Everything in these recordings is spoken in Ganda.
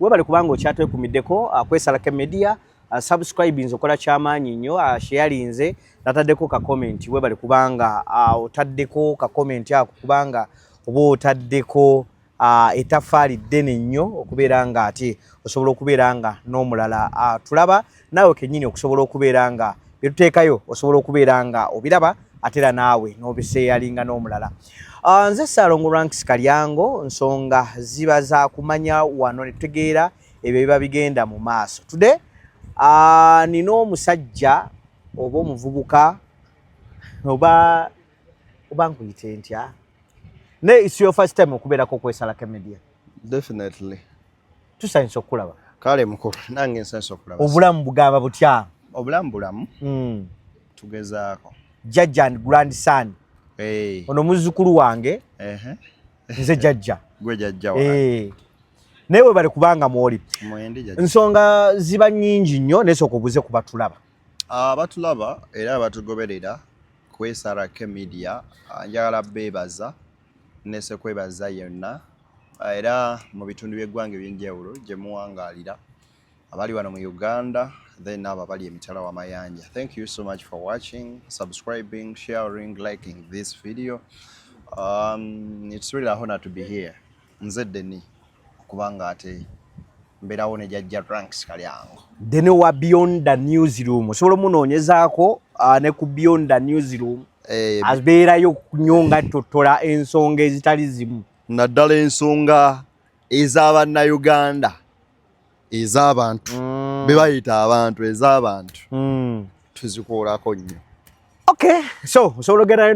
webale kubanga okyatwekumiddeko uh, kwesalake media uh, subscribe nze okola kyamaanyi nnyo uh, sheyalinze nataddeko ka comment webale kubanga otaddeko ka comment ako kubanga oba otaddeko etafaali ddene nnyo okubeera nga ate osobola okubeera nga n'omulala tulaba naawe kennyini okusobola okubeera nga bye tuteekayo osobola okubeera nga obiraba ate era naawe n'obiseeyalinga n'omulala ah, nze saalongo ranks kalyango nsonga ziba za kumanya wano ne tutegeera ebyo biba bigenda mu maaso today ah, nina omusajja oba omuvubuka oba oba nkuyite ntya naye isi your first time okubeerako okwesalako emedia definitely tusanyusa okukulaba kale mukulu nange nsanyusa okulaba obulamu bugamba butya obulamu bulamu mm. tugezaako jajja and grand son hey. ono muzzukulu wange uh-huh. nze jajja gwe jajja hey. Eh. naye webale kubanga mwoli nsonga ziba nyingi nnyo naye sooka obuze ku batulaba ah, abatulaba era abatugoberera ku srk media ah, njagala beebaza Nese kwebaza yenna era mu bitundu by'eggwanga eby'enjawulo gye muwangaalira abali wano mu Uganda then abo abali emitala wa mayanja thank you so much for watching subscribing sharing liking this video um, it's really a honor to be here nze Denis okuba nga ate mberawo ne jajja ranks kalyango then wa beyond the newsroom osobola omunoonyezaako ah, ne ku beyond the newsroom eh, abeerayo nnyo nga tottola ensonga ezitali zimu naddala ensonga ez'abannayuganda ez'abantu mm. be bayita abantu ez'abantu mm. tuzikuulako nnyo okay so osobola ogerayo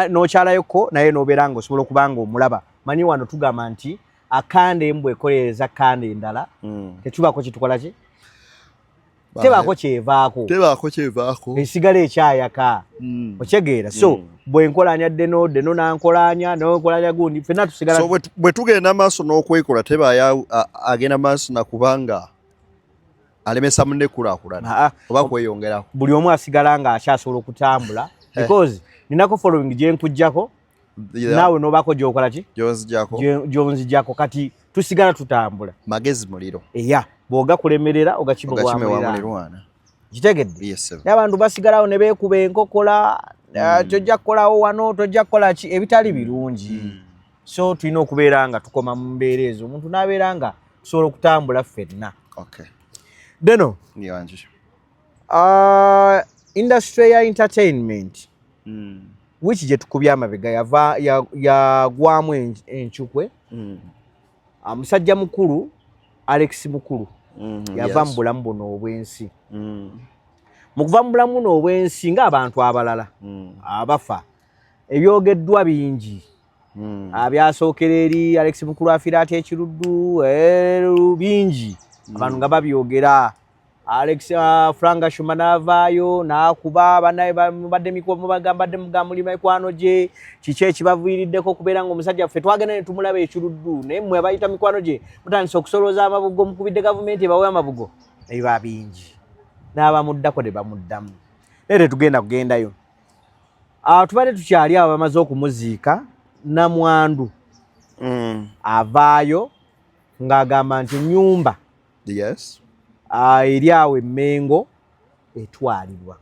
n'okyalayoku naye n'obeera nga osobola okuba nga omulaba manyi wano tugamba nti akanda embwa ekolereza kanda endala mm. tetubaako kitukola ki tebaako kyevaako tebaako kyevaako esigala ekyayaka mm. okyegeera so mm. bwe nkolanya deno deno nankolanya nonkolanya gundi fena tusigala so, bwe tugenda maaso n'okwekola tebaya agenda maaso nakubanga alemesa munne kulakulana oba kweyongerako buli omu asigala nga akyasobola okutambula because ninako following gyenkujjako naawe nobaako gyokola ki gyonzijako kati tusigala tutambula magezi muliro eya bwogakulemerera ogakimewamulirwana kitegedde naye abantu basigalawo ne beekuba enkokola eh, hmm. tojja kukolawo wano tojja kukola ki ebitali birungi hmm. so tulina okubeera nga tukoma mu mbeera ezo omuntu n'abeera nga tusobola okutambula ffenna deno Uh, industry ya entertainment mm. which gye tukubye amabega yava yagwamu ya encukwe mm. Ah, musajja mukulu alex mukulu mm, yava yes. mu bulamu buno obwensi mm. mu kuva mu bulamu buno obwensi ng'abantu abalala mm. abafa ebyogeddwa bingi mm. abyasookera ah, eri alex mukulu afira ati ekiruddu eh, bingi mm. abantu nga babyogera Alex uh, Franga Shuma navaayo nakuba banaye mubadde mikomo bagambadde mugamuli mikwano gye kiki ekibaviiriddeko okubeera nga omusajja ffe twagenda ne tumulaba ekiruddu naye mmwe abayita mikwano gye mutandise okusolooza amabugo mukubidde gavumenti ebawe amabugo naye ba bingi n'abamuddako ne bamuddamu naye tetugenda kugendayo uh, tubadde tukyali abo bamaze okumuziika namwandu mm. avaayo ng'agamba nti nyumba yes uh, eri awo emengo etwalibwa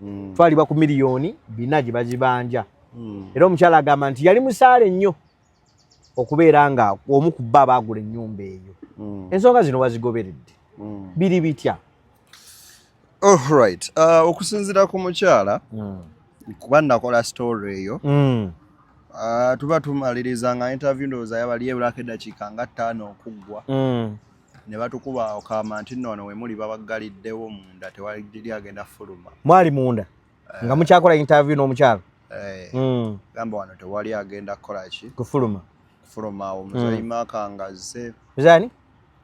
mm. twalibwa ku miliyoni bina gye bazibanja mm. era omukyala agamba nti yali musaale nnyo okubeera nga omu ku bba baagula ennyumba eyo mm. ensonga zino wazigoberedde mm. biri bitya Alright. Oh, uh, okusinzira ku mukyala mm. kuba nakola story eyo mm. uh, tuba tumaliriza nga interview ndowooza yabali ebulako eddakiika nga ttaano okuggwa mm. ne batukuba okama nti noono wemuli babaggaliddewo munda tewali agenda fuluma mwali munda uh, nga mukyakola interview n'omukyala hey, eh, mm. gamba wano tewali agenda kukola ki kufuluma kufuluma awo muzayi mm. maka ngazze muzani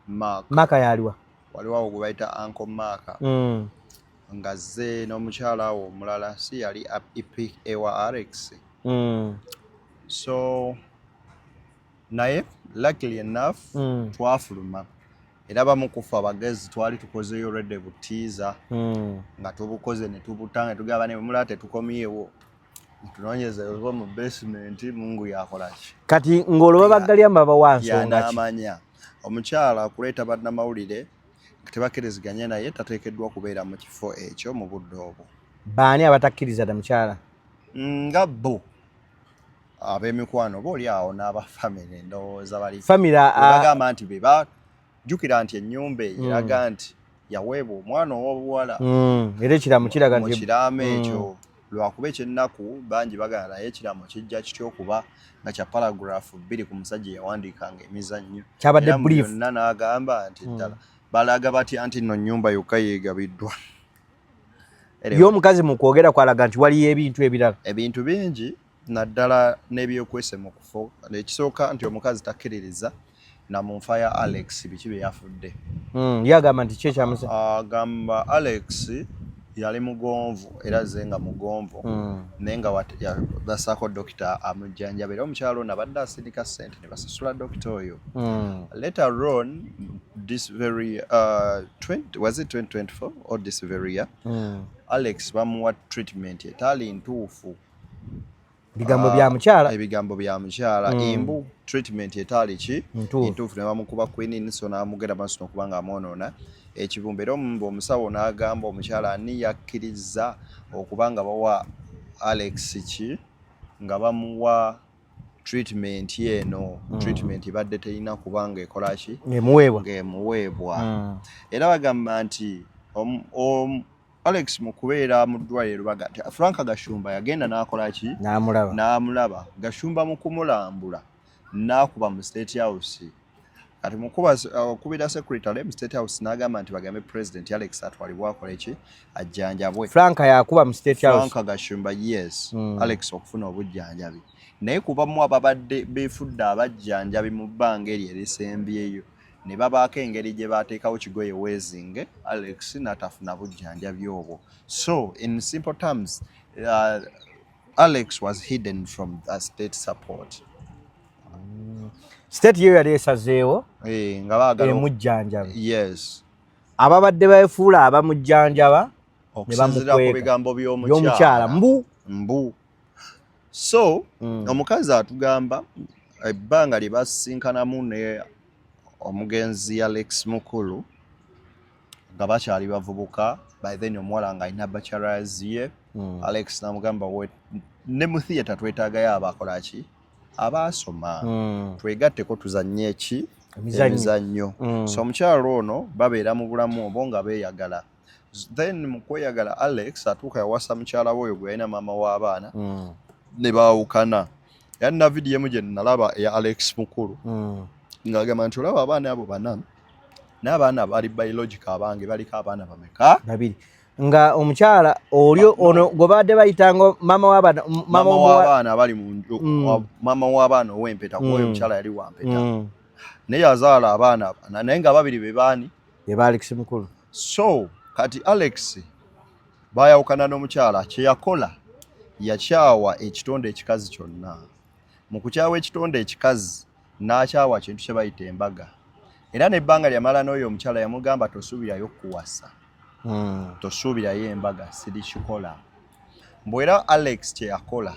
maka maka yaliwa waliwo awo gwebayita anko maaka mm. nga zze n'omukyala awo omulala si yali epic ewa rx mm. so naye luckily enough mm. twafuluma era bamu kufa abagezi twali tukozeyo rede butiiza mm. nga tubukoze netubutanga tugamba ne bwemulaba tetukomyewo tunonyeza oba mu basement mungu yakolaki kati ng'olwo babaggalya mbabawansonga ki omukyala okuleeta bannamawulire nga tebakiriziganya naye tateekeddwa kubeera mu kifo ekyo mu budde obwo baani abatakkiriza da mukyala mm, nga bo ab'emikwano oba oli awo n'aba famire ndowooza balibagamba nti beba jjukira nti ennyumba eyo eraga mm. nti yaweebwa omwana ow'obuwala mm, era ekiramu kiraga nti ekiramu mm. ekyo lwakuba ekyennaku bangi bagala naye ekiramu kijja kitya okuba nga kya paragurafu bbiri ku musajja yawandiikanga emizannyo kyabadde byonna n'agamba nti mm. ddala balaga batya nti nno nnyumba yokka yeegabiddwa ye omukazi mu kwogera kwalaga nti waliyo ebintu ebirala ebintu bingi naddala n'ebyokwese mu kufo ekisooka nti omukazi takkiririza na mu nfa ya Alex biki bye yafudde hmm, ye agamba nti ki ekyamusa agamba Alex yali mugonvu era ze nga mugonvu hmm. naye nga basaako dokita amujjanjaba era omukyalo ono abadde asindika ssente ne basasula dokita oyo hmm. later on this very uh, 20, was it 2024 or this very year mm. alex bamuwa treatment etaali ntuufu bigambo bya ah, mukyala ebigambo bya mukyala mm. imbu treatment etaali ki entuufu ne bamukuba quinine so n'amugera maaso nokuba nga amwonoona ekibumba era omumba omusawo n'agamba omukyala ani yakkirizza okuba nga bawa alex ki nga bamuwa treatment eno mm. treatment ebadde terina kuba nga ekola ki ngaemuweebwa mm. era bagamba nti Alex mu kubeera mu ddwaliro Lubaga, Frank Gashumba yagenda n'akola ki? N'amulaba. N'amulaba. Gashumba mu kumulambula n'akuba mu State House. Kati mu kuba okubira uh, secretary mu State House n'agamba nti bagambe President Alex atwalibwe akole ki ajjanjabwe. Frank yakuba mu State House. Frank Gashumba yes. Mm. Alex okufuna obujjanjabi. Naye kubamu ababadde beefudde abajjanjabi mu bbanga eryo erisembyeyo. ne babaako engeri gye baateekawo kigoye weezinge alex natafuna bujjanjabi obwo so in simple terms uh, alex was hidden from the state support mm. state yeyo yali esazeewo eh, nga baagala emujjanjaba yes ababadde baefuula abamujjanjaba ne bamukweka byomukyala mbu mbu so mm. omukazi atugamba ebbanga lye basisinkanamu ne omugenzi ya lex mukulu nga bakyali bavubuka by then omuwala nga alina bachelors ye mm. alex namugamba ne mu theatre twetagayo abakolaki abaasoma mm. twegatteko tuzanye eki emizannyo mm. so omukyalo ono babeera mu bulamu obo nga beeyagala then mu kweyagala alex atuuka yawasa mukyala we oyo gwe yalina maama w'abaana mm. ne baawukana era nina vidiyo emu gye nalaba eya alex mukulu mm. ng'agamba nti olaba abaana abo bana n'abaana bali biologica abange baliko abaana bameka babiri nga omukyala oli ono gwe baadde bayitanga maama w'abaana maama w'abaana abali mu mm. maama w'abaana ow'empeta kuba oyo omukyala yali wampeta naye yazaala abaana abana naye nga babiri be baani be ba alex mukulu so kati alex bayawukana n'omukyala kyeyakola yakyawa ekitonde ekikazi kyonna mu kukyawa ekitonde ekikazi n'akyawa kintu kye bayita embaga era nebbanga lyamala n'oyo omukyala yamugamba tosuubirayo kuwasa hmm. tosuubirayo embaga sirikikola mbu era alex kyeyakola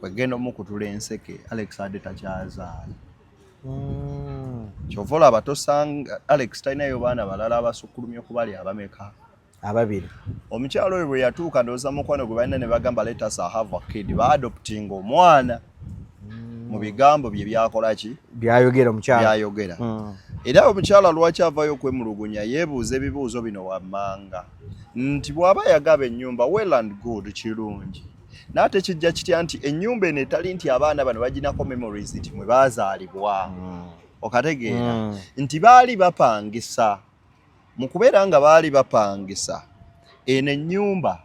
kwegenda omukutula enseke alex ade takyazaala hmm. kyova olaba tosanga alex talinayo baana balala abasukulumya okubali abameka ababiri omukyalo oyo bwe yatuuka ndowooza mukwano gwe balina ne bagamba letas ahava kid baadoptinga omwana hmm. mu bigambo bye byakolaki byayogera omukyalo byayogera hmm. era omukyala lwaki avayo okwemulugunya yeebuuza ebibuuzo bino wammanga nti bw'aba yagaba ennyumba well and good kirungi naye ate kijja kitya nti ennyumba eno etali nti abaana bano baginako memories nti mwe baazaalibwa mm. okategeera mm. nti baali bapangisa mu kubeera nga baali bapangisa eno ennyumba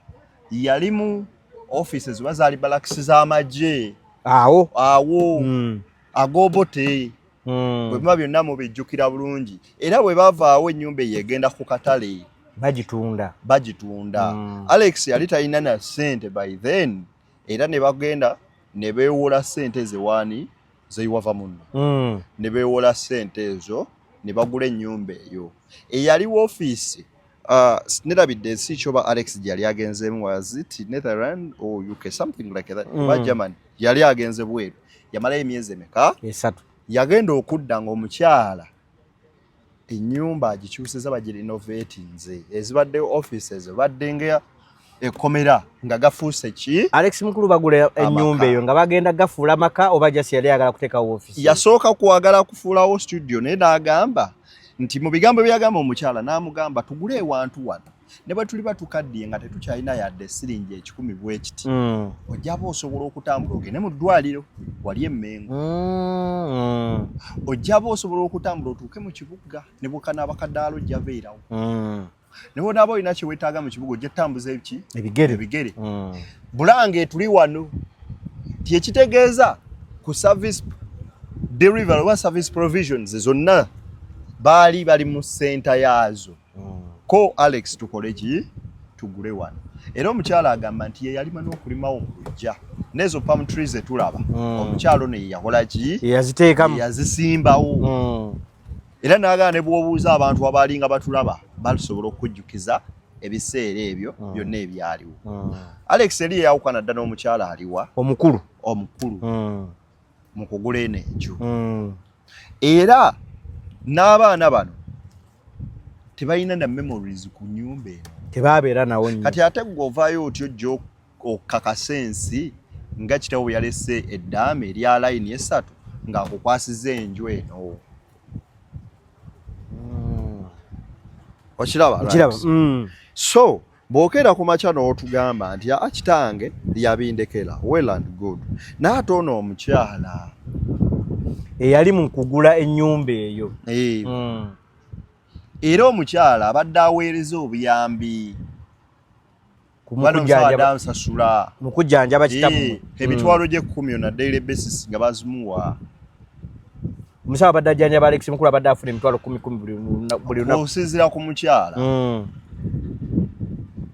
yalimu offices oba zaali balakisi z'amagye awo awo mm. agobote hmm. bwe biba byonna mubijjukira bulungi era bwe bavaawo ennyumba eyo egenda ku katale bagitunda bagitunda hmm. alex yali talina na sente by then era ne bagenda ne beewola sente zewaani zeiwava muno hmm. ne beewola sente ezo ne bagula ennyumba eyo eyali woofiisi Uh, nerabidde ensi kyoba alex gyeyali agenzeemu was it netherland or uk something like that mm. oba german yali agenze bweru yamalayo emyezi emeka esatu yagenda okudda ngaomukyala enyumba agikyuseza bagirinovatinze ezibadde offices baddenga ekomera nga gafuuse ki Alex Mukulu bagula ennyumba eyo nga bagenda gafuula maka oba just yali ayagala kuteekawo ofisi yasooka kwagala kufuulawo studio naye n'agamba nti mu bigambo byagamba omukyala n'amugamba tugule ewantu wano ne bwe tuliba tukaddiye nga tetukyalina yadde siringi ekikumi bwekiti mm. ojjaba osobola okutambula ogende mu ddwaliro wali emmengo mm. ojjaba osobola okutambula otuuke mu kibuga ne bukanaabakadaalo ojjabeerawo mm. naye onaaba olina kyewetaaga mu kibuga ojja tambuza eki ebigere ebigere mm. bulange tuli wano tyekitegeeza ku service delivery oba service provisions zonna baali bali mu senta yaazo mm. ko alex tukole ki tugule wano era omukyala agamba nti yeyalima n'okulimawo mu lujja nezo palm trees etulaba mm. omukyalo ne yakola ki yaziteekamu yazisimbawo mm. era n'agana ne bw'obuuza abantu abaali nga batulaba balisobola okukujjukiza ebiseera ebyo mm. byonna ebyaliwo mm. alex eri eyawukana dda n'omukyala aliwa omukulu omukulu mm. mu kugula eno enju era n'abaana bano tebalina na memories ku nyumba eno tebabeera nawo kati ate gwe ovaayo otyo okakasa ensi nga kitawo bwe yalese eddaame erya layini esatu ng'akukwasiza enju eno hmm. okiraba hmm. so bw'okeera ku makya n'otugamba nti aa kitange yabindekera well and good naye ate ono omukyala eyali mu kugula ennyumba eyo eh. hmm. era omukyala abadde aweereza obuyambi mukujjanjaba eh, kitabu hmm. emitwalo gy'ekkumi ona daily basis nga bazimuwa omusawo abadde ajjanjaba alex mukulu abadde afuna emitwalo kumi kumi buli lunaku okusinziira ku mukyala hmm.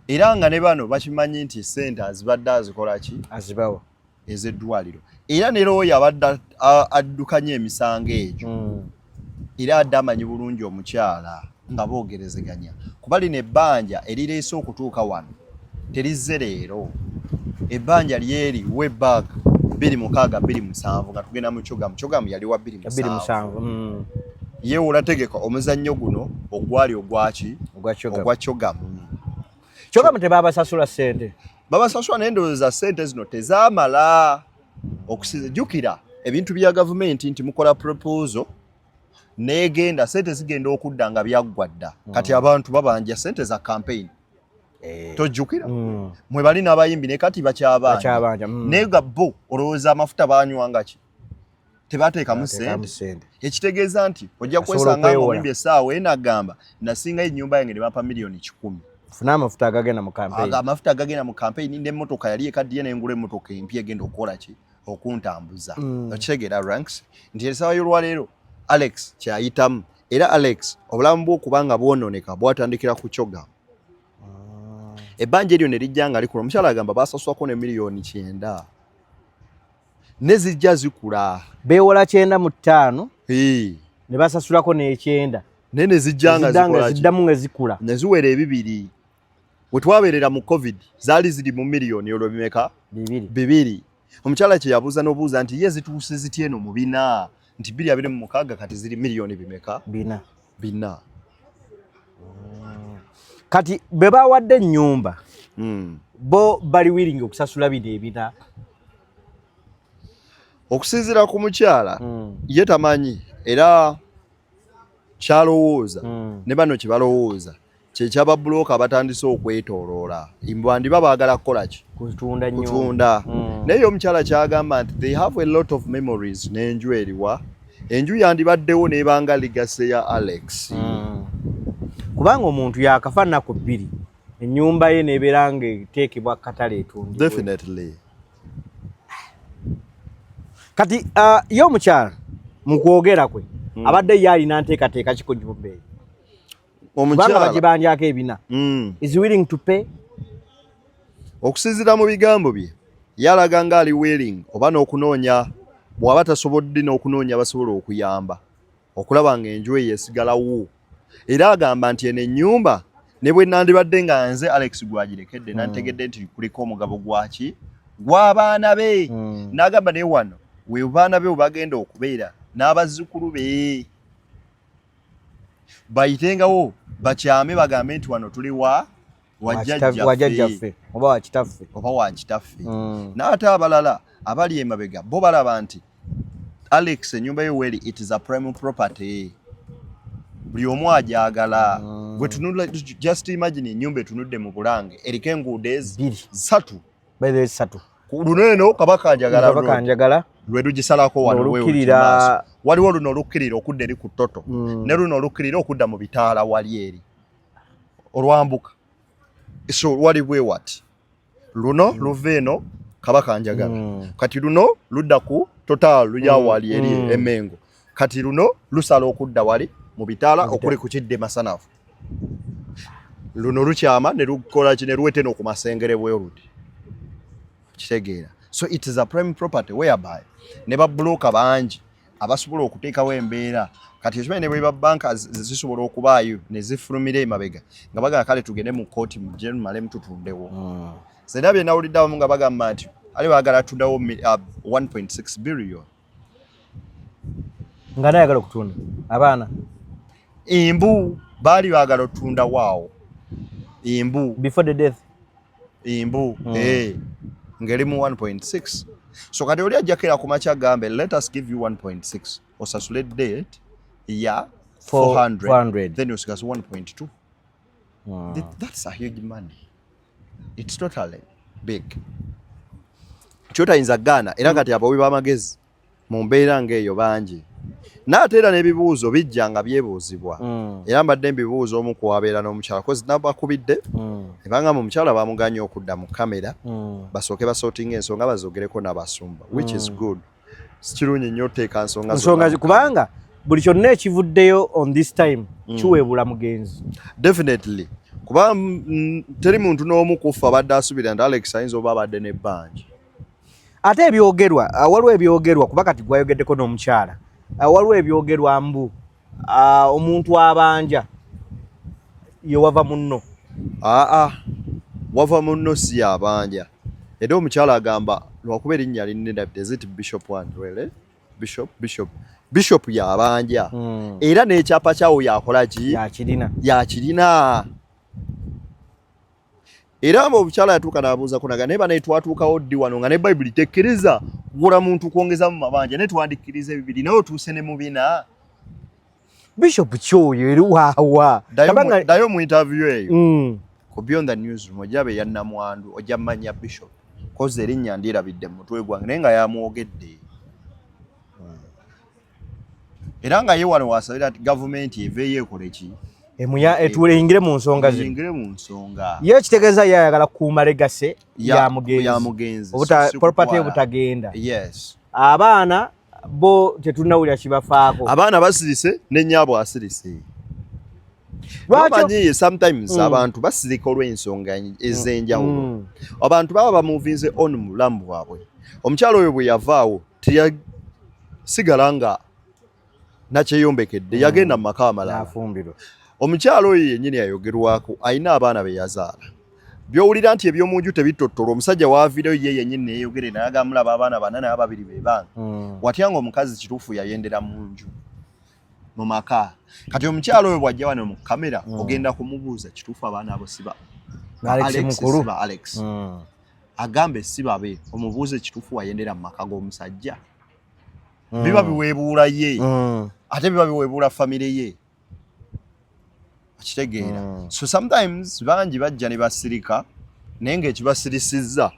era nga ne bano bakimanyi nti sente azibadde azikolaki azibawa ez'eddwaliro era ne looya abadde addukanya emisango egyo hmm. era adde amanyi bulungi omukyala nga boogerezeganya kuba lino ebbanja erireese okutuuka wano terizze leero ebbanja lyeri webak bbiri mukaaga bbiri musanvu nga tugenda mu kyogamu kyogamu yali wa bbiri musanvu hmm. yewe olategeka omuzannyo guno ogwali ogwaki ogwa kyogamu kyoka mute baba sasula sente baba sasula nende za sente zino tezamala okusiza jukira ebintu bya government nti mukola proposal negenda sente zigenda okudda nga byaggwa dda mm. kati abantu babanja sente za campaign eh. tojjukira mm. mwe bali n'abayimbi ne kati bakyabanja mm. naye ga bo olowooza amafuta banywangaki tebateekamu sente ekitegeeza nti ojja kwesanga ngaoyimbye essaawa ena agamba nasingayo ennyumba yange ne bampa miliyoni kikumi funa amafuta agagenda mu kampeyini amafuta agagenda mu kampeyini n'emmotoka yali ekaddiye nengula emmotoka empya egenda okukola ki okuntambuza mm. okitegeera ranks nti esaawa y'olwaleero alex kyayitamu era alex obulamu bwokuba nga bwonooneka bwatandikira ku kyogamba ah. ebbanja eryo ne lijja nga likula omukyala agamba basaswako ne miliyoni kyenda ne zijja zikula beewola kyenda mu ttaano ne basasulako n'ekyenda naye ne zijja nga ziddamu nga zikula ne ziwera ebibiri we twabeerera mu covid zaali ziri mu miliyoni olwo bimeka bibiri omukyala kye yabuuza n'obuuza nti ye zituuse zitya eno mu bina nti biri abiri mu mukaaga kati ziri miliyoni bimeka bina bina kati bwe bawadde ennyumba hmm. bo bali wiringi okusasula bino ebina okusinziira ku mukyala hmm. ye tamanyi era kyalowooza hmm. ne bano kye balowooza kyekyaba bulooka batandise okwetoloola bandiba baagala kukola ki kutunda kutunda mm. naye yo omukyala kyagamba nti they have a lot of memories n'enju eriwa enju yandibaddewo nebanga ligase ya alex mm. kubanga omuntu yakafa naku bbiri enyumba ye nebeera nga eteekebwa katale etundi definitely kati uh, ye omukyala mu kwogera kwe mm. abadde ye alina nteekateeka kiko gyumba eyo omukyala bagibandyako ebina mm. is willing to pay okusinzira mu bigambo bye yalaga nga ali willing oba n'okunoonya bw'aba tasobodde n'okunoonya abasobola okuyamba okulaba nga enju eyo esigalawo era agamba nti eno ennyumba ne bwe nandibadde nga nze alex gwagirekedde mm. nantegedde nti kuliko omugabo gwaki gw'abaana be mm. n'agamba naye wano we baana be webagenda okubeera n'abazzukulu be bayitengawo bakyame bagambe nti wano tuli wa wajajjaffe oba wakitaffe oba wakitaffe mm. naate abalala abali emabega bo balaba nti alex enyumba yo weli it is a prime property buli omu agyagala mm. bwetunula just imagine enyumba etunudde mu bulange eriko enguudo ezi satu by the way satu luno eno kabaka njagala kabaka njagala lwe lugisalako wano lwewulira waliwo luno olukkirira okudda eri ku toto mm. ne luno olukkirira okudda mu bitaala wali eri olwambuka so wali bwe wati luno mm. luva eno kabaka njagala mm. kati luno ludda ku total luyawali eri emengo kati luno lusala okudda wali mu bitaala okuli ku kidde masanafu luno lukyama ne lukola ki ne luwete no ku masengere bwerudi kitegeera so it is a prime property whereby ne babbulooka bangi abasobola okuteekawo embeera kati ekimanyi ne bweba banka zisobola okubaayo ne zifulumira emabega nga bagala kale tugende mu kooti mujemalemu tutundewo hmm. zena byenawulidde abamu nga bagamba nti ali bagala tudawo 1.6 uh, billion nga naye ayagala okutunda abaana embu baali baagala otunda waawo embu before the death embu mm. hey. Eh, ngeri mu 1.6 so kati oli ajjakira ku makya gambe let us give you 1.6 osasule date ya 400, 400. then osigaza 1.2 Wow. That's a huge money. It's totally big. Kyotayinza gaana era kati abawi b'amagezi mu mbeera ng'eyo bangi naate era n'ebibuuzo bijja nga byebuuzibwa mm. era mbadde mbibuuza omu kuwabeera n'omukyala kozi nabakubidde mm. ebanga mu mukyala bamuganye okudda mu kamera mm. basooke basootinga ensonga bazogereko n'abasumba which is good sikirungi nnyo oteeka nsonga nsonga kubanga buli kyonna ekivuddeyo on this time mm. kiweebula mugenzi definitely kuba mm, teri muntu n'omu kuffa abadde asubira nti alex ayinza oba abadde n'ebbanja ate ebyogerwa ah, waliwo ebyogerwa kuba kati gwayogeddeko n'omukyala ah, waliwo ebyogerwa mbu Ah, omuntu abanja yewava munno aa ah, ah. wava munno si yabanja era omukyala agamba lwakuba erinnya linnedabde zit bishop one really bishop bishop bishop yabanja hmm. era n'ekyapa kyawo yakolaki yakirina yakirina era abo obukyala yatuuka n'abuuzako naga naye banaye twatuukawo ddi wano nga ne bayibuli tekkiriza kugula muntu kwongeza mu mabanja naye twandikkiriza ebibiri naye otuuse ne mu bina bishop kyoyo eri waawa dayo mu interview eyo mm. ku beyond the news room ojja be yannamwandu ojja manya bishop kozi erinnya ndirabidde mu mutwe gwange naye nga yamwogedde era nga yewala wasabira ati gavumenti eveeyo ekoleki etuyingire mu nsonga ziyingire mu nsonga ye ekitegeeza ye ayagala kukuuma legase ya mugenzi property obutagenda yes abaana bo tetulinawulira kibafaako abaana basirise nenyabo asirise lwakimanyiye sometimes mm. abantu basirika olw'ensonga ez'enjawulo mm. abantu baba bamuvinze on mu bulamu bwabwe omukyalo oyo bwe yavaawo teyasigala nga nakyeyombekedde yagenda mu maka amalala omukyalo oyo yennyini yayogerwako alina abaana be yazaala byowulira nti ebyomu nju tebitottola omusajja waavireyo ye yennyini neyeyogere naye agamulaba abaana bana naye ababiri be baana hmm. watya nga omukazi kituufu yayendera mu nju mu maka kati omukyalo oyo bwajja wano mu kamera hmm. ogenda kumubuuza kituufu abaana abo siba alex hmm. agambe si babe omubuuza ekituufu wayendera mu maka g'omusajja mm. biba biweebuula ye mm. ate biba biweebuula famire ye okitegeera mm. so sometimes bangi bajja ne basirika naye ngaekibasirisizza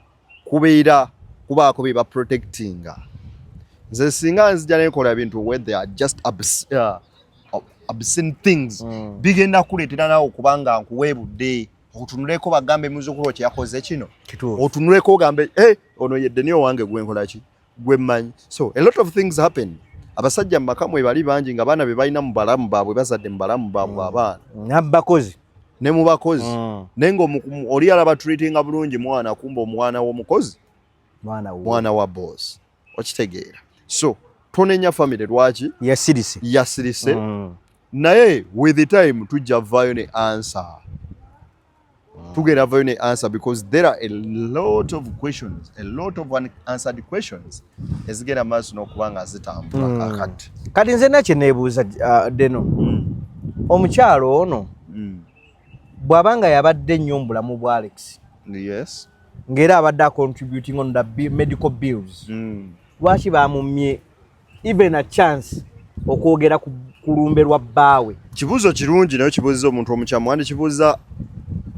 kubeera kubaako bye baprotectinga nze singa nzija nekola bintu where they are just abs uh, obscene things mm. bigenda kuleetera nawe okubanga nkuweebudde otunuleko bagambe muzukulu kye yakoze kino otunuleko ogambe hey, eh, ono yedde niyo wange gwe nkola ki gwe mmanyi so a lot of things happen abasajja mu maka mwe bali bangi nga baana be balina mu balamu baabwe bazadde mu balamu baabwe mm. abaana nabakozi ne mu bakozi mm. naye nga oli alaba treatinga bulungi mwana kumba omwana w'omukozi mwana wa boss okitegeera so tonenya family lwaki yasirise yasirise mm. naye with the time tujja vayo ne answer mm. tugenda vayo ne answer because there are a lot of questions a lot of unanswered questions ezigenda maaso n'okuba nga zitambula mm. kakati kati nze nakye neebuuza uh, deno mm. omukyalo ono mm. bw'aba nga yabadde nnyo mu bulamu bwa alex yes ngera abadde a contributing on the medical bills mm. lwaki bamumye even a chance okwogera ku kulumbe lwa bbaawe kibuuzo kirungi naye kibuuziza omuntu omukyamu wandi kibuuza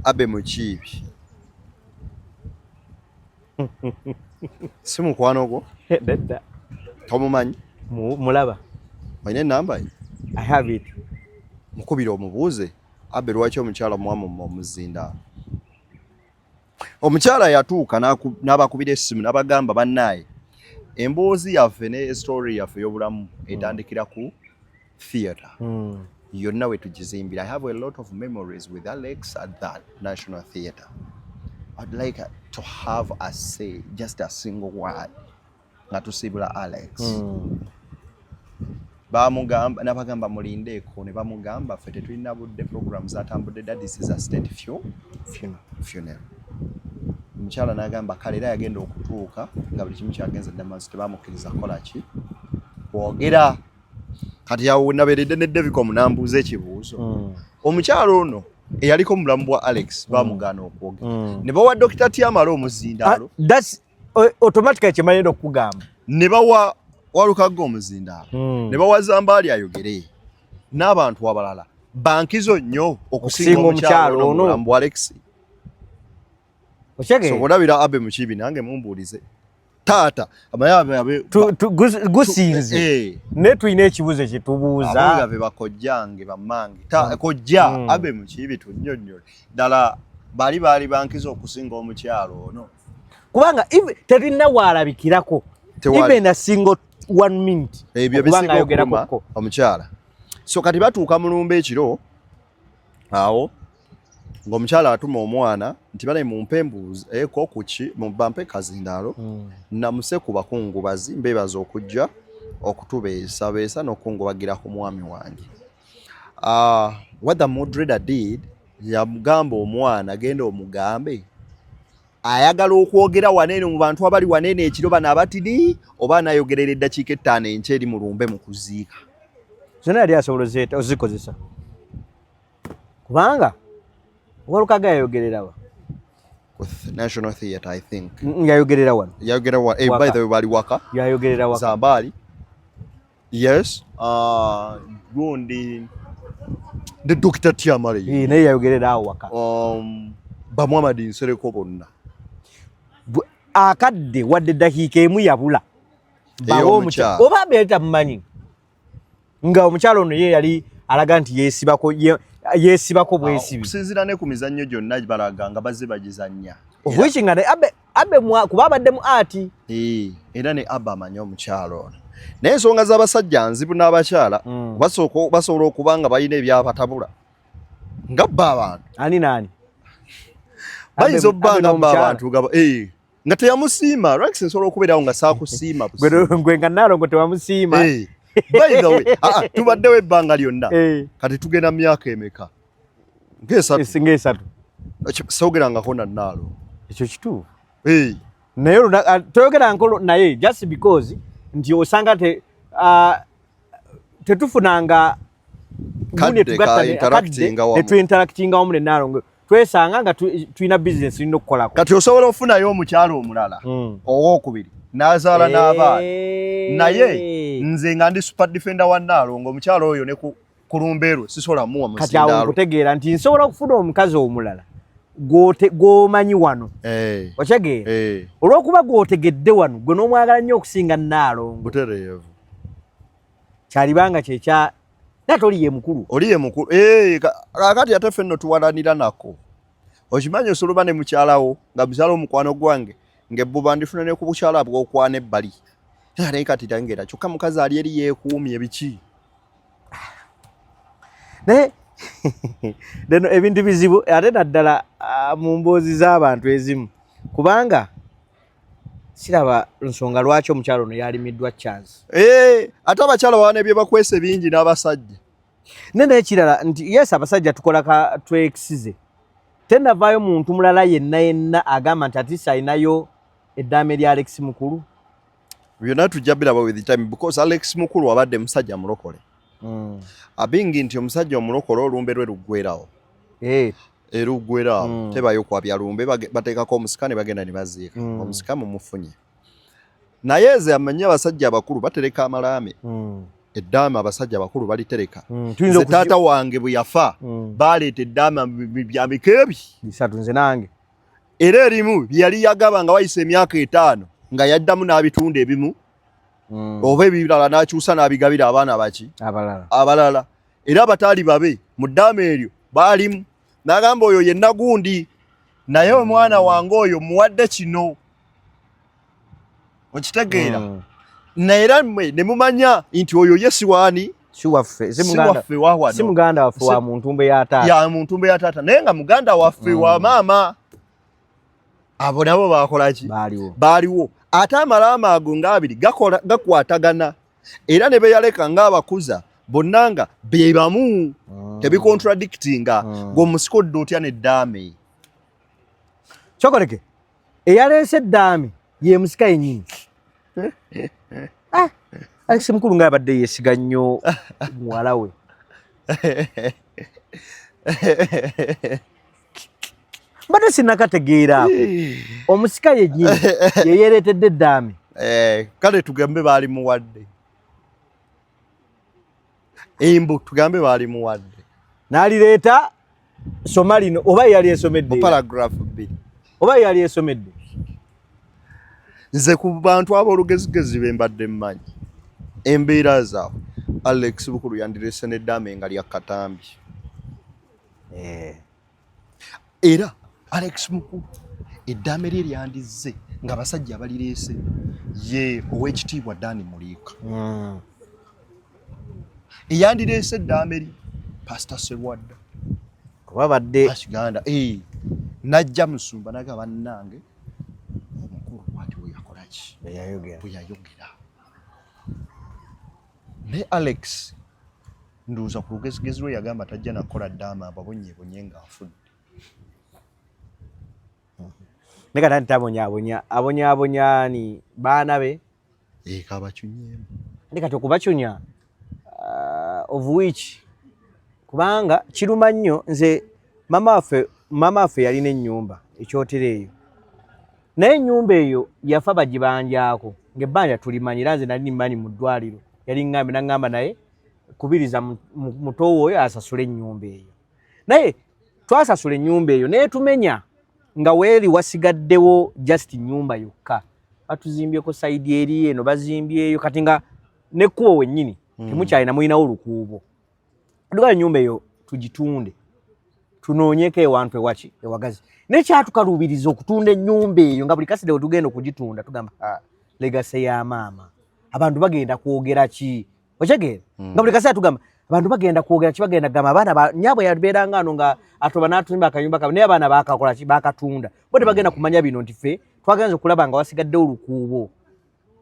abe mukiibi si mukwano gwo dedda tomumanyi mulaba olina enamba ye i have it mukubira omubuuze abe lwaki omukyala mwamu omuzindaalo Omukyala yatuuka n'abakubira essimu n'abagamba bannaaye emboozi yaffe ne story yaffe y'obulamu etandikira ku theatre hmm. yonna we tugizimbira i have a lot of memories with alex at that national theatre i'd like to have a say just a single word nga tusiibula alex hmm. bamugamba nabagamba mulindeeko ne bamugamba ffe tetulina budde program zatambudde dadisiza state few funeral omukyala nagamba kale era yagenda okutuuka nga buli kimu kyagenze damazi tebamukkiriza kukola ki kwogera kati awo naberedde ne devico munambuuza ekibuuzo hmm. omukyala ono eyaliko mulamu bwa alex mm. bamugaana okwogera mm. ne bawa dokita tiamala omuzindaalo ah, automatically kyemanyi ndo kugamba ne bawa walukaga omuzindaalo hmm. ne bawa zambaali ayogere n'abantu abalala bankizo nnyo okusinga omukyalo ono mbu alex okyege so olabira abe mukibi nange mumbuulize taata abayabe gusinze eh. ne tulina ekibuzo kyetubuuza ababe bakojjange bamange hmm. kojja hmm. abe mukibi tunyonyole ddala bali baali bankiza okusinga omukyalo ono kubanga terina waalabikirako even a single one minute ebyo bisinga okuluma omukyala so kati batuuka mulumba ekiro awo ng'omukyala atuma omwana nti bale mumpe embuuzi eko eh, kuki bampe kazindaalo hmm. namuse ku bakungubazi mbeebaza okujja okutubeesabeesa n'okukungubagira ku mwami wange Uh, what the moderator did yamugamba omwana genda omugambe ayagala okwogera waneeno mu bantu abali waneeno ekiro bano abatidi oba anayogerera eddakiika ettaano enkya eri mu lumbe mu kuziika zona yali asobola ozikozesa kubanga walukaga yayogererawa national theatre i think yayogerera wano yayogerera wano eh, by the way bali waka yayogerera waka zambaali Yes. Uh, gundi ne Dr. Tiamale. Ye naye yayogerera awo waka. Um, ba Muhammad Nsereko bonna. Akadde wadde dakiika emu yabula. Bawo omukyala. Oba beeta mumanyi. Nga omukyala ono ye yali alaga nti yeesibako yeesibako bwesibi. Okusinzira ne ku mizannyo gyonna balaga nga bazze bagizannya. Which nga abe abe mwa kuba abadde mu ati eh era ne aba amanyi omukyalo ono naye ensonga z'abasajja nzibu n'abakyala mm. basooka basobola okuba nga balina ebyabatabula nga bba abantu ani naani bayinza obba nga bba abantu gaba eh nga teyamusiima lwaki nsobola okubeerawo nga saakusiima gwe nga naalongo tewamusiima eh, bayinza we ah, ah, tubaddewo ebbanga lyonna eh. kati tugenda myaka emeka ngesinga esatu sogerangako nanaalo ekyo kituufu naye ah, toyogeranko naye just because nti osanga te ah, tetufunanga netuinteractinga wamu nenaalongo twesanga nga tulina business tulina okukolako kati osobola ofunayo omukyalo omulala hmm. owokubiri nazaala n'abaana naye nze nga ndi super defender wa naalongo omukyalo oyo neku ku lumbe lwe sisobola muwa musindaalo kati awo nkutegeera nti nsobola okufuna omukazi omulala gwomanyi wano eh. okyegeera eh. olwokuba gwotegedde wano gwe nomwagala nnyo okusinga naalongo kyalibanga kyekya ate oli yemukulu oli yemukulu eh, kakati ate ffe nno tuwalanira nako okimanyi osoloba ne mukyalawo nga mukyala omukwano gwange ngebbuba ndifuna ne ku bukyala bwokwana ebbali naye kati tangeera kyokka mukazi ali eri yekuumye biki naye deno ebintu bizibu ate naddala ah, mu mboozi z'abantu ezimu kubanga siraba nsonga lwaki omukyalo ono yalimiddwa chance eh, ate abakyala bawana ebyebakwese bingi n'abasajja ne nekirala nti yes abasajja tukola ka tweksize tenavaayo muntu mulala yenna yenna agamba nti atisa ayinayo eddaame lya alexi mukulu byonna tujja biraba with time because Alex Mukulu abadde musajja mulokole mm. abingi nti omusajja omulokole olumbe lwe luggwerawo hey. Eh. eruggwerawo mm. tebayo kwabya lumbe bateekako omusika ne bagenda ne baziika mm. omusika mumufunye naye ze amanyi abasajja abakulu batereka amalaame mm. eddaama abasajja abakulu balitereka mm. nze taata wange bwe yafa mm. baleeta eddaama bya mikeebi bisatu nze nange era erimu yali yagaba nga wayise emyaka etaano nga yaddamu n'abitunda ebimu mm. oba ebirala n'akyusa n'abigabira abaana baki abalala era abataali babe mu ddaama eryo baalimu n'agamba oyo yenna gundi naye omwana wange oyo muwadde kino okitegeera hmm. naye era mwe ne mumanya nti oyo ye siwaani siwaffe si muganda waffe wa muntumbe ya taata ya muntumbe ya taata naye nga muganda waffe wa hmm. maama abo nabo bakolaki baaliwo ate amalaama ago ngaabiri gakwatagana era ne beyaleka ngaabakuza bonna nga be bamu ah. tebikontradictinga ah. ng'omusika odda otya neddaame kyokoleke eyaleese eddaame ye musika yennyini ah, alexi mukulu nga abadde yesiga nnyo muwala we mbadde sinakategeera omusika yennyini yeyereetedde eddaame eh, kale tugambe baali muwadde embu tugambe baali muwadde n'alireeta soma lino oba yali esomedde paragraph bbiri oba yali esomedde nze ku bantu ab'olugezigezi be mbadde mmanyi embeera zaabwe alex bukulu yandirese n'eddaame nga lya katambi eh. era alex muku eddaame lye lyandizze nga abasajja abalireese ye ow'ekitiibwa dani muliika hmm. eyandireese eddaame lye pasita serwadda kuba badde kiganda eh, najja musumba naga bannange omukulu bwati weyakolaki bweyayogera naye alex ndowooza ku lugezigezi lwe yagamba tajja nakukola ddaama ababonyebonye nga afudde ne kata nti tabonyabonya abonyabonya ni baana be eka eh, bacunyemu ne kati okubacunya uh, of which kubanga kiruma nnyo nze mama waffe mama waffe yalina ennyumba ekyotera eyo naye ennyumba eyo yafa bagibanjaako ngaebbanja tulimanyi era nze nali nimanyi mu ddwaliro yali ŋŋambe naŋŋamba naye kubiriza mutowo oyo asasule enyumba eyo naye twasasula enyumba eyo naye tumenya nga weli wasigaddewo just nyumba yokka batuzimbyeko saidi eri eno bazimbyeyo kati nga nekubo wenyini hmm. temukyalina mulinawo lukuubo dugala enyumba eyo tugitunde tunoonyeko ewantu ewaki ewagazi naye kyatukaluubiriza okutunda enyumba eyo nga buli kaside wetugenda okugitunda tugamba ah, legase ya maama abantu bagenda kwogera ki okitegeera mm. nga buli kaseera tugamba abantu bagenda kwogera kibagenda gamba abaana nyabo yabeeranga ano nga atoba n'atuyimba akayumba kabe naye abaana bakakola ki bakatunda bo tebagenda mm. kumanya bino nti ffe twagenza okulaba nga wasigadde olukuubo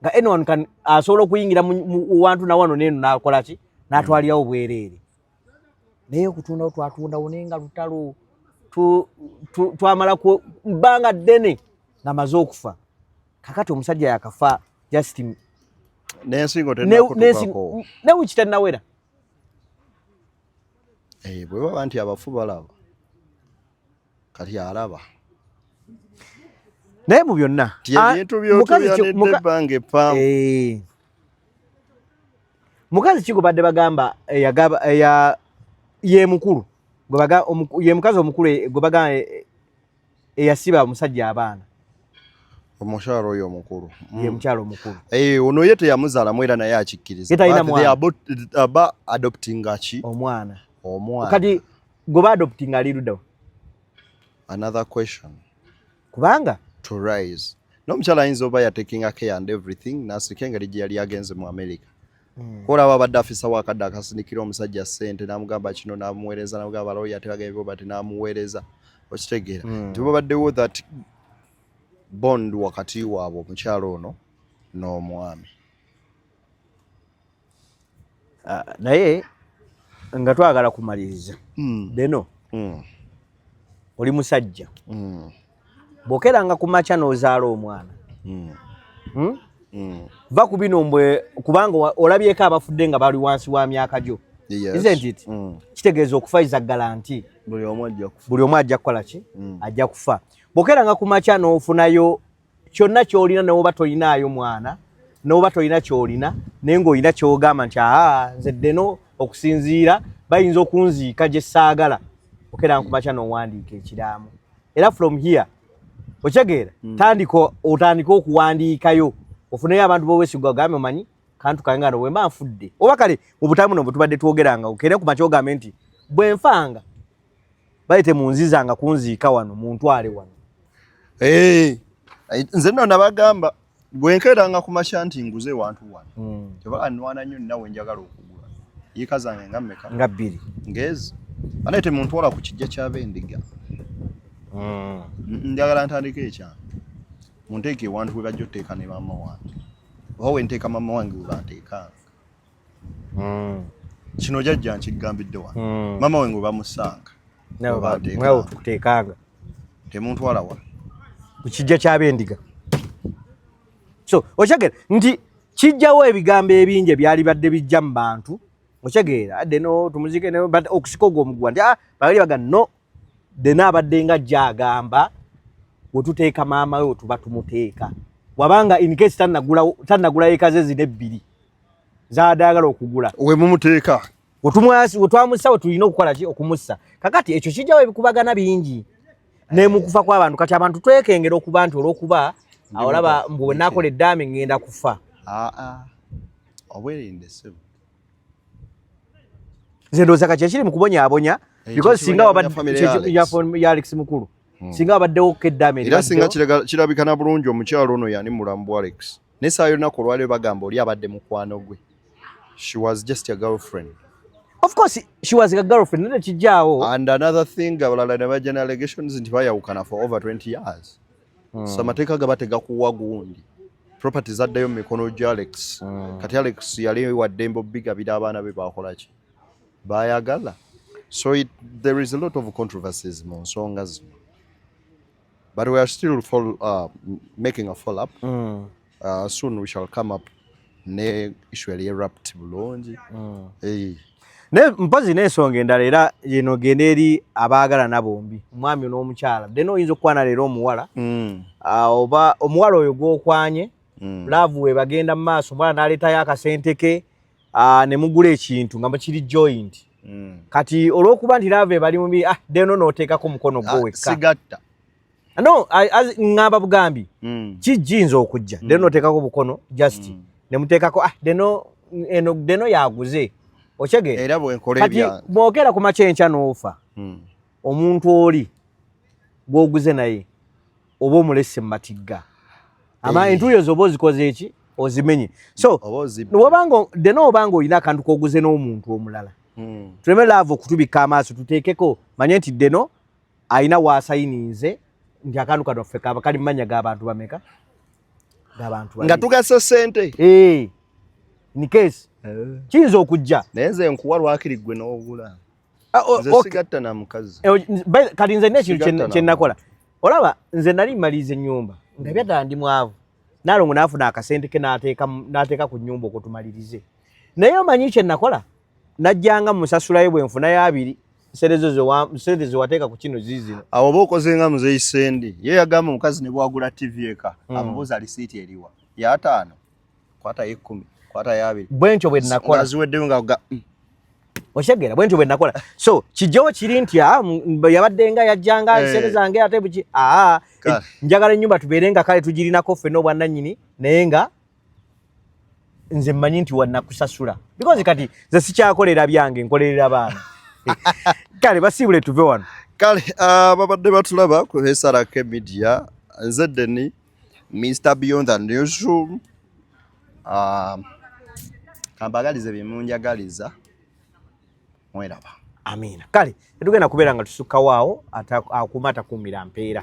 nga anyone kan asobola okuyingira mu wantu nawano neeno nakola ki natwalirawo bwereere naye okutundawo twatundawo naye nga lutalo twamala bbanga ddene nga maze okufa kakati omusajja yakafa just nensingo tenakutubako newiki tennawera eh, bwe baba nti abafu balaba kati alaba naye mu byonna ebintu byotuyanidde ebbanga eppaamu eh. mukazi ki gwebadde bagamba ye mukulu ye mukazi omukulu gwebagamba eyasiba omusajja abaana omukyalo oyo omukulu mm. ye mukyalo omukulu eh, ono ye teyamuzalamu era naye akikkiriza ba adopting ki omwana omwana kati gwe ba adopting ali ludawa another question kubanga to rise n'omukyala ayinza oba yatekinga care and everything nasika engeri gye yali agenze mu america Mm. Kola aba badde afisa wakadde akasinikira omusajja sente namugamba kino namuwereza namugamba lawyer tebagambye bo bati namuwereza okitegeera mm. nti babaddewo that bond wakati waabwe omukyalo ono n'omwami ah, naye nga twagala kumaliriza mm. beno mm. oli musajja mm. bwokeranga ku makya n'ozaala omwana hmm. Hmm? Hmm. va ku bino mbwe kubanga olabyeko abafudde nga bali wansi wa myaka gyo kitegeeza okufa iza galanti buli omu ajja kukola ki ajja kufa bwokeranga ku makya n'ofunayo kyonna kyolina newoba tolinaayo mwana noba tolina kyolina naye ngaolina kyogamba nti aa nze ddeno okusinziira bayinza okunziika gye saagala okeera nkumakya nowandiika ekiraamo era from here okitegeera mm. tandika otandika okuwandiikayo ofuneyo abantu bowesigwa ogambe omanyi kantu kange ngano bwemba nfudde oba kale mu butamu no butubadde twogeranga okere ku makyo ogambe nti bwenfanga bayite munzizanga kunziika wano muntwale wano hey. Eh, nze nno nabagamba Bwe nkeeranga ku makya nti nguze wantu wano kyova hmm. annwana nnyo ninawe njagala okugula yiika zange nga mmeka nga bbiri ngeezi anaye temuntwala ku kijja kyaba endiga hmm. njagala ntandika ekyama munteeka ewantu we bajja oteeka ne maama wange oba wenteeka maama wange webanteekanga mm. kino jajja nkigambidde wano mm. mama we ngo bamusanga mwawo tukuteekanga temuntwala wa ku kijja ky'abendiga so okyagera nti kijjawo ebigambo ebingi ebyali badde bijja mu bantu okitegeera adde no tumuzike ne but okusika ogwo omugwa nti ah bali baga no dena abadde nga ajja agamba wetuteeka maama we wetuba tumuteeka wabanga incase tannagulayo eka ze zina ebbiri zadagala okugula wemumuteeka wetwamussa wetulina okukola ki okumussa kakati ekyo kijjawo ebikubagana bingi nemukufa kwabantu kati abantu twekengera okuba nti olwokuba awolaba mbu wenakola eddaami ngenda kufa ah, ah. obwerinde sebo nze ndowooza kati ekiri mu kubonyaabonya eh, because singa ya alex mukulu hmm. singa wabaddewo keddame era singa kirabika na bulungi omukyalo ono yani mulamu bwa alex naye saa yonnaku olwaliro bagamba oli abadde mukwano gwe she was just a girlfriend of course she was a girlfriend nete kijjaawo and another thing abalala ne bajja ne allegations nti bayawukana for over 20 years mm. so amateeka gaba tegakuwa gundi property zaddayo mu mikono gya alex mm. kati alex yali waddembe obigabira abaana be bakolaki bayagala so it, there is a lot of controversies mu nsonga zino but we are still follow, uh, making a follow up mm. Uh, soon we shall come up ne issue yali erupt bulungi mm. hey. ne mpazi n'ensonga endala era yeno genda eri abaagalana bombi omwami n'omukyala dena oyinza okukwana leero omuwala mm. uh, oba omuwala oyo gwokwanye mm. laavu we bagenda mu maaso omuwala n'aleetayo akasente ke uh, ne mugula ekintu nga mukiri joint mm. kati olw'okuba nti laavu ebali mubi ah, deno n'oteekako omukono gwo ah, wekka no ngamba bugambi mm. kijinza okujja mm. deno otekako bukono just mm. nemutekako ah deno eno deno yaguze ochege era bwenkole bya bwokera ku machencha nofa mm. omuntu oli gwoguze naye oba omulese matigga ama hey. Eh. entuyo zobo zikoze eki ozimenye so wabanga deno obanga olina akantu koguze n'omuntu omulala mm. tuleme laavu okutubikka amaaso tuteekeko manye nti deno alina waasayininze nti akantu kano ffe kaba kali mumanya gabantu bameka gabantu nga tugasa sente eh, ni kesi eh. kiyinza okujja naye nze nkuwa lwakiri gwe n'ogula ah, oh, nze sigatta na mukazi eh, kati nze nekintu kyenakola olaba nze nali maliza ennyumba nga byadala ndi mwavu nalongo nafuna akasente ke nateeka nateeka ku nyumba okutumalirize naye omanyi kye nakola najjanga musasulayo bwe nfuna ya abiri serezo zo wa sente zo wateeka ku kino zizino awo oba okoze nga muzeyi sendi ye yagamba omukazi ne bwagula tv eka mm. amubuuza lisiiti eriwa ya ataano kwata y'ekkumi kwata ya abiri bwe ntyo bwe nakola ziweddeyo nga mm. oshegera bwenti bwe nakola so kijo kiri nti ah, yabadde nga yajjanga hey. Eh. sente zange ate buki aa ah, eh, njagala ennyumba tubeere nga kale tugirinako ffe n'obwannannyini naye nga nze mmanyi nti wanakusasula because kati nze sikyakolera byange nkolerera baana kale basiibule tuve wano kale ah, babadde batulaba ku hesarake media nze deni Mr Beyond the Newsroom uh, kambagalize byemunjagaliza mweraba amiina kale tetugenda kubeera nga tusukkawo awo akuuma atakuumira mpeera